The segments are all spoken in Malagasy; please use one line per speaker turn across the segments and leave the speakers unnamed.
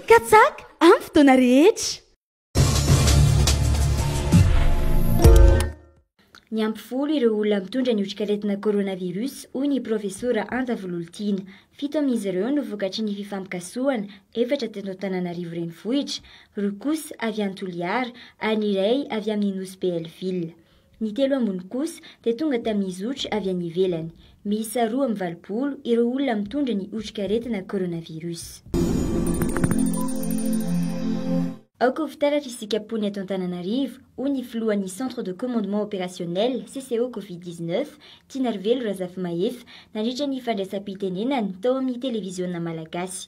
Katsaka amin'ny fotoana rehetra.
Niampy folo ireo olona mitondra ny otrikaretina coronavirus, hoy ny Profesora Anja Vololtiana. Fito amin'izy ireo no vokatry ny fifampikasohana, efatra teto Antananarivo renivohitra, roa kosa avy any Toliara ary ny iray avy amin'ny Nosy Belleville. Ny telo ambiny kosa dia tonga tamin'ny zotra avy any ivelany. Miisa roa amby valopolo ireo olona mitondra ny otrikaretina coronavirus. Aoka ho fitaratra isika mponia eto Antananarivo, hoy ny filohan'ny Centre de Commandement Opérationnel, CCO Covid 19, Tinarivelo Razafimahefa, nandritra ny fandraisam-pitenenany tao amin'ny televiziona malagasy.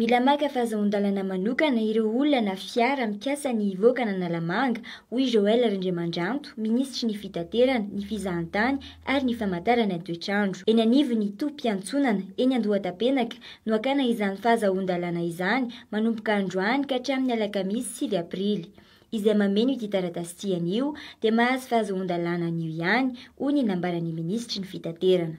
Mila maka fahazoan-dalana manokana ireo olona na fiara mikasa ny hivoaka an'Analamanga, hoy Joël Rindriamandranto, minisitry ny Fitaterana, ny Fizahantany ary ny Famantarana ny toetr'andro. Eny anivon'ny tobim-piantsonana eny Andohatapenaka no hakana izany fahazahoan-dalàna izany, manomboka androany ka hatramin'ny alakamisy sivy aprily. Izay mameno ity taratasy ity anio dia mahazo fahazoan-dalàna anio ihany, hoy ny nambaran'ny minisitry ny Fitaterana.